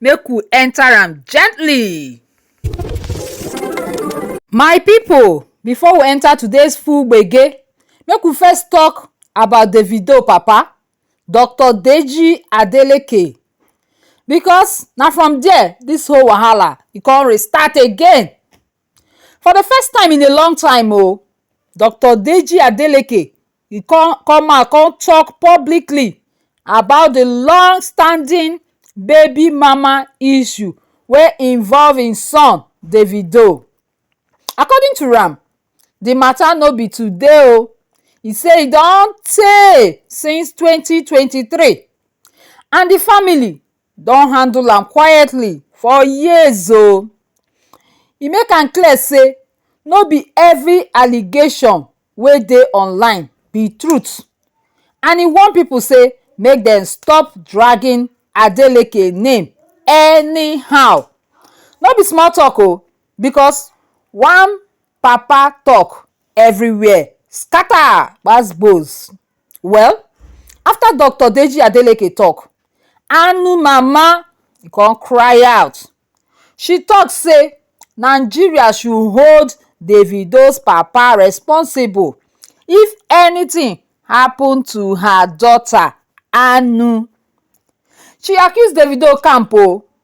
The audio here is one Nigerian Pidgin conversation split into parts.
make u enter am gently. My people before we enter today's full gbege make we first talk about Davido papa Doctor Deji Adeleke because na from there this whole wahala e come restart again For the first time in a long time o, Doctor Deji Adeleke e come come out come talk publicly about the long standing baby mama issue wey involve im son Davido. According to am, the matter no be today o, e say e don tey since twenty twenty three and the family don handle am quietly for years o e make am clear say no be every allegation wey dey online be truth and e warn people say make dem stop dragging Adeleke name anyhow no be small talk o because one papa talk everywhere scatter gbas gbos well after Doctor Deji Adeleke talk Anu mama kon cry out, she tok say Nigeria should hold Davido's papa responsible if anytin happun to her daughter Anu. She accuse Davido camp o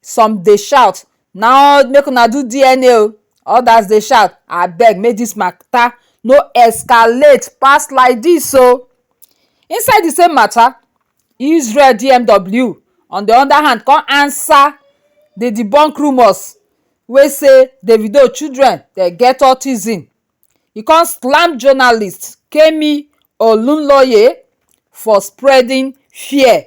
some dey shout na make una do DNA o others dey shout abeg make this matter no escalate pass like this o inside the same matter Israel DMW on the other hand come answer the debunk rumours wey say Davido children dem get autism e come slam journalist Kemi Olunloye for spreading fear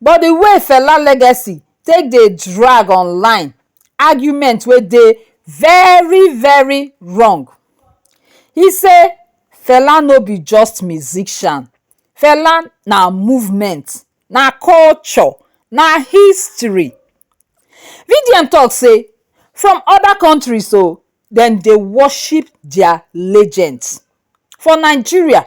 but the way Fela legacy take dey drag online argument wey dey very very wrong he say Fela no be just musician Fela na movement na culture na history VDM talk say from other countries oo dem dey worship their legends for Nigeria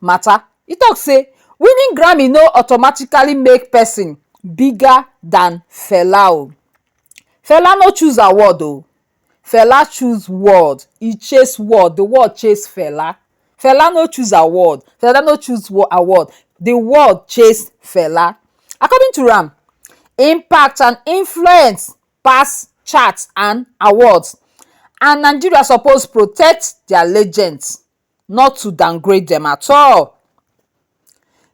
matter. E talk say winning Grammy no automatically make person bigger than Fela o. Fela no choose award o, Fela choose world, e chase world, the world chase Fela. Fela no choose award, Fela no choose award, the world chase Fela. According to am, impact and influence pass chart and awards and Nigeria suppose protect their legends. not to downgrade dem at all.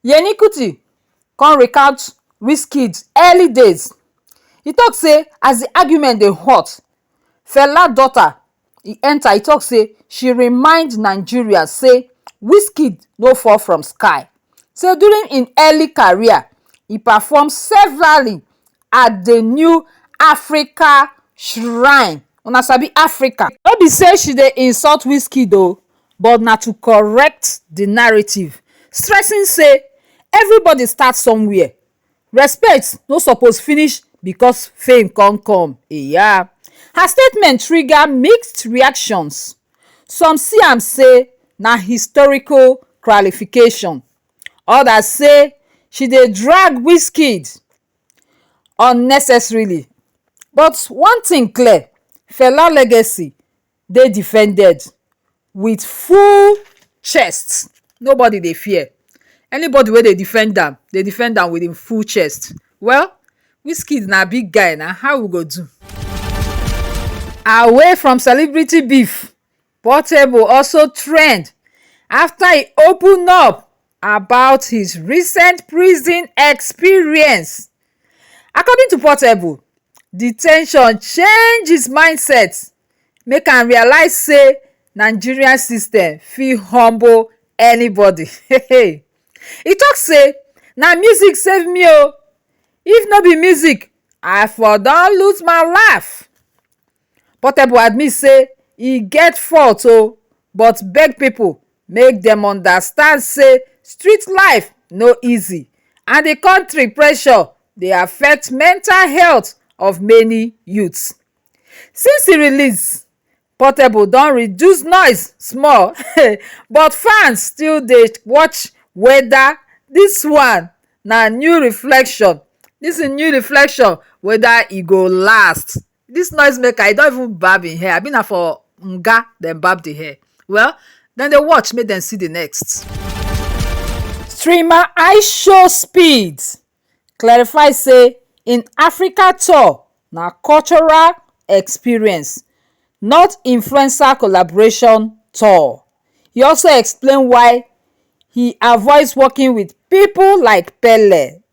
Yemi Kuti come recount Wizkid early days, e talk say as the argument dey hot, Fela daughter e enter e talk say she remind Nigerians say Wizkid no fall from sky, say during im early career e perform severally at the new Africa shrine. Una sabi Africa? No be say she dey insult Wizkid o, but na to correct the narrative, stressing say everybody start somewhere, respect no suppose finish because fame come come. Eya! Her statement trigger mixed reactions, some see am say na historical clarification, others say she dey drag Wizkid unnecessarily but one thing clear fela legacy dey defended wit full chest nobody dey fear anybody wey dey defend am dey defend am wit im full chest well wizkid na big guy na how we go do away from celebrity beef portable also trend afta e open up about his recent prison experience. According to Portable, de ten tion change his mindset make am realize say Nigerian system fit humble anybody. e talk say na music save me o if no be music i for don lose my life. Portable admit say e get fault o, but beg pipo make dem understand say street life no easy and di kontri pressure dey affect mental health of many youths. Since di release, Portable don reduce noise small but fans still dey watch weda dis one na new reflection dis im new reflection weda e go last. This noise maker he don't even barb him hair abi na for nga dem barb the hair well then they watch make them see the next. streamer ishow speed clarify say im africa tour na cultural experience not influencer collaboration tour he also explain why he avoid working wit pipo like pele.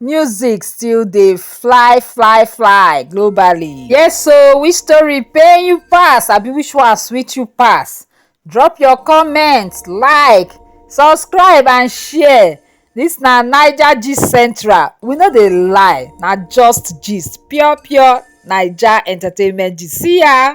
Music still dey fly fly fly globally. Yes o, which story pain you pass abi which one sweet you pass? Drop your comment, like, subscribe and share. This na Naija Gist Central, we no dey lie, na just gist, pure pure Naija entertainment gist. See ya!